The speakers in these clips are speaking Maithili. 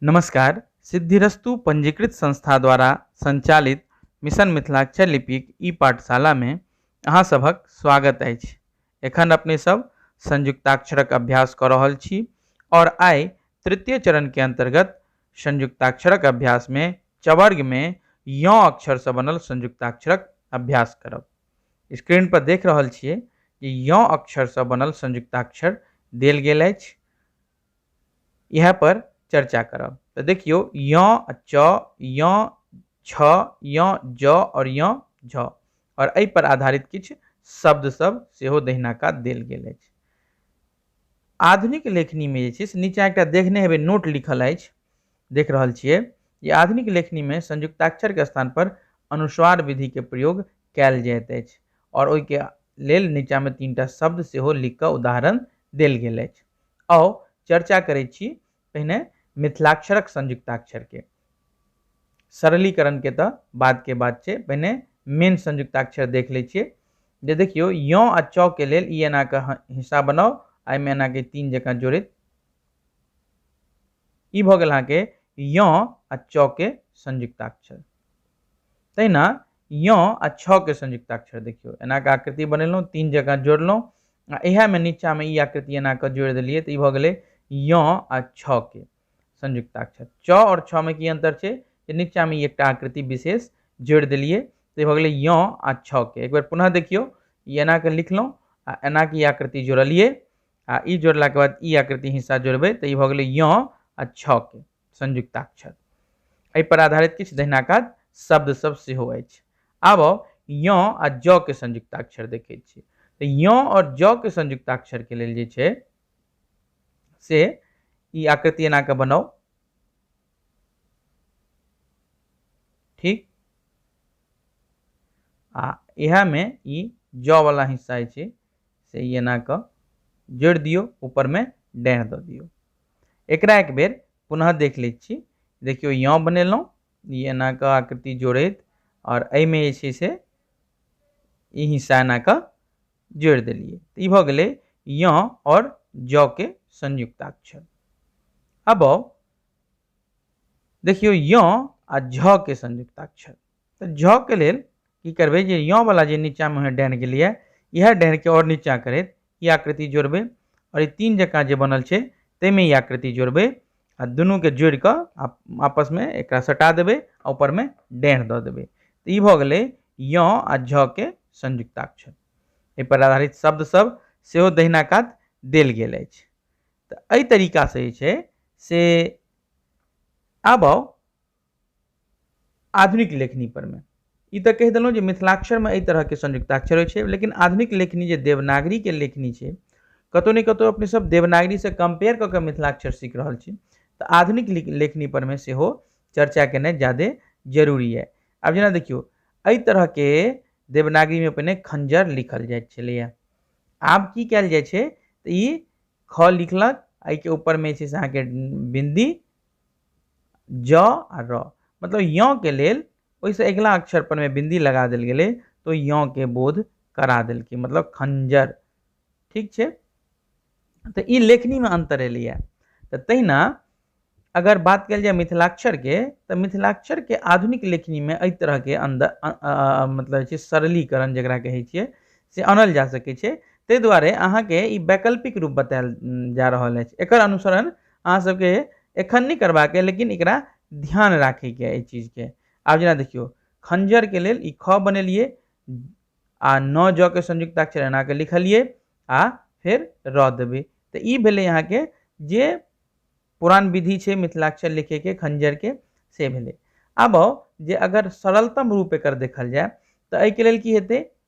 नमस्कार सिद्धिरस्तु पंजीकृत संस्था द्वारा संचालित मिशन मिथिलाक्षर लिपिक ई पाठशालामे अहाँ सभक स्वागत अछि एखन अपने सब संयुक्ताक्षरक अभ्यास कऽ रहल छी आओर आइ तृतीय चरणके अन्तर्गत संयुक्ताक्षरक अभ्यासमे चवर्गमे यौँ अक्षरसँ बनल संयुक्ताक्षरक अभ्यास करब स्क्रीन पर देख रहल छियै जे यौँ अक्षरसँ बनल संयुक्ताक्षर देल गेल अछि इएह पर चर्चा करब तऽ देखियौ य आ च य छ य ज और य झ और एहि पर आधारित किछु शब्द सब सेहो दहिना कात देल गेल अछि आधुनिक लेखनी में जे छै से नीचा एकटा देखने हेबै नोट लिखल अछि देख रहल छियै जे आधुनिक लेखनी में संयुक्ताक्षर के स्थान पर अनुस्वार विधि के प्रयोग कयल जाइत अछि और ओहि के लेल नीचा में तीन टा शब्द सेहो लिख कऽ उदाहरण देल गेल अछि आउ चर्चा करै छी पहिने मिथिलाक्षरक संयुक्ताक्षरके सरलीकरणके तऽ बादके बात छै पहिने मेन संयुक्ताक्षर देख लै छियै जे देखियौ यँ आ चौ के लेल ई एना कऽ हिस्सा बनाउ आ एहिमे एना कऽ तीन जकाँ जोड़ैत ई भऽ गेल अहाँके यँ आ चौ के संयुक्ताक्षर तहिना य आ छ के संयुक्त अक्षर देखियो एना के आकृति बनेलहुँ तीन जगह जोड़लहुँ आ इहे में नीचा में ई आकृति एना के जोड़ दिलिए तो ई भ गेलै य आ छ के संयुक्त अक्षर च और छ में की अंतर छै जे नीचा में एकटा आकृति विशेष जोड़ दिलिए तो ई भ गेलै य आ छ के एक बेर पुनः देखियो ई एना के लिखलहुँ आ एना के आकृति जोड़लिए आ ई जोड़ला के बाद ई आकृति हिस्सा जोड़बे तो ई भ गेलै य आ छ के संयुक्ताक्षर एहि पर आधारित किछु दहिना काज शब्द सब सेहो अछि आब आउ य आ ज के संयुक्ताक्षर देखे छी तो य और ज के संयुक्ताक्षर के लेल जे छै से ई आकृति एना के बनाउ ठीक आ यह में ई ज वाला हिस्सा छै से एना के जोड़ दियो ऊपर में डैह द दियो एकरा एक बेर पुनः देख लै छी देखियौ यँ बनेलहुँ ई एना कऽ आकृति जोड़ैत आओर एहिमे जे छै से ई हिस्सा एना कऽ जोड़ि देलियै तऽ ई भऽ गेलै यँ आओर जौके संयुक्ताक्षर अब आउ देखियौ यँ आ झके संयुक्ताक्षर तऽ जँ के लेल की करबै जे यँ बला जे नीचाँमे अहाँ डाइन गेलियै इएह डाइनके आओर नीचाँ करैत ई आकृति जोड़बै आओर ई तीन जकाँ जे बनल छै ताहिमे ई आकृति जोड़बै आ दुनूके जोड़ि कऽ आ आपसमे एकरा सटा देबै आ ऊपरमे डाइन दऽ देबै तऽ ई भऽ गेलै यँ आ झ के संयुक्ताक्षर एहिपर आधारित शब्दसभ सेहो दहिना कात देल गेल अछि तऽ एहि तरीकासँ जे छै से आब आउ आधुनिक लेखनी पर में ई तऽ कहि देलहुँ जे मिथिलाक्षर में एहि तरह के संयुक्ताक्षर होइत छै लेकिन आधुनिक लेखनी जे देवनागरी के लेखनी छै कतौ ने कतौ अपने सब देवनागरी से कम्पेयर कऽ के मिथिलाक्षर सीख रहल छी तऽ आधुनिक लिख लेखनी पर में सेहो चर्चा केनाइ जादे जरूरी यऽ आब जेना देखियौ एहि तरह के देवनागरी में पहिने खंजर लिखल जाइत छलैया आब की कयल जाइ छै तऽ ई ख लिखलक एहिके ऊपर में जे छै से अहाँके बिन्दी ज आ र मतलब य के लेल ओहिसँ अगिला अक्षर पर मे बिन्दी लगा देल गेलै तो य के बोध करा देलकै मतलब खंजर ठीक छै तऽ ई लेखनीमे अन्तर एलैए तऽ तहिना अगर बात कयल जाय मिथिलाक्षरके तऽ मिथिलाक्षरके आधुनिक लेखनीमे एहि तरहके अन्दर मतलब छै सरलीकरण जकरा कहै छियै से आनल जा सकै छै ताहि दुआरे अहाँके ई वैकल्पिक रूप बतायल जा रहल अछि एकर अनुसरण अहाँ सबके एखन नहि करबाक अइ लेकिन एकरा ध्यान राखैके अइ एहि चीजके आब जेना देखियौ खञ्जरके लेल ई ख बनेलियै आ न ज के संयुक्ताक्षर एनाके लिखलियै आ फेर र देबै तऽ ई भेलै अहाँके जे पुरान विधि छै मिथिलाक्षर लिखैके खञ्जरके से भेलै आब आउ जे अगर सरलतम रूप एकर देखल जाय तऽ एहिके लेल की हेतै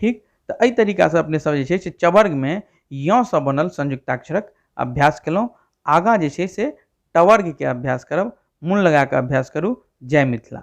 ठीक तऽ एहि तरीकासँ अपने सब जे छै से चवर्गमे यसँ बनल संयुक्ताक्षरक अभ्यास केलहुँ आगाँ जे छै से टवर्गके अभ्यास करब मोन लगाकऽ अभ्यास करू जय मिथिला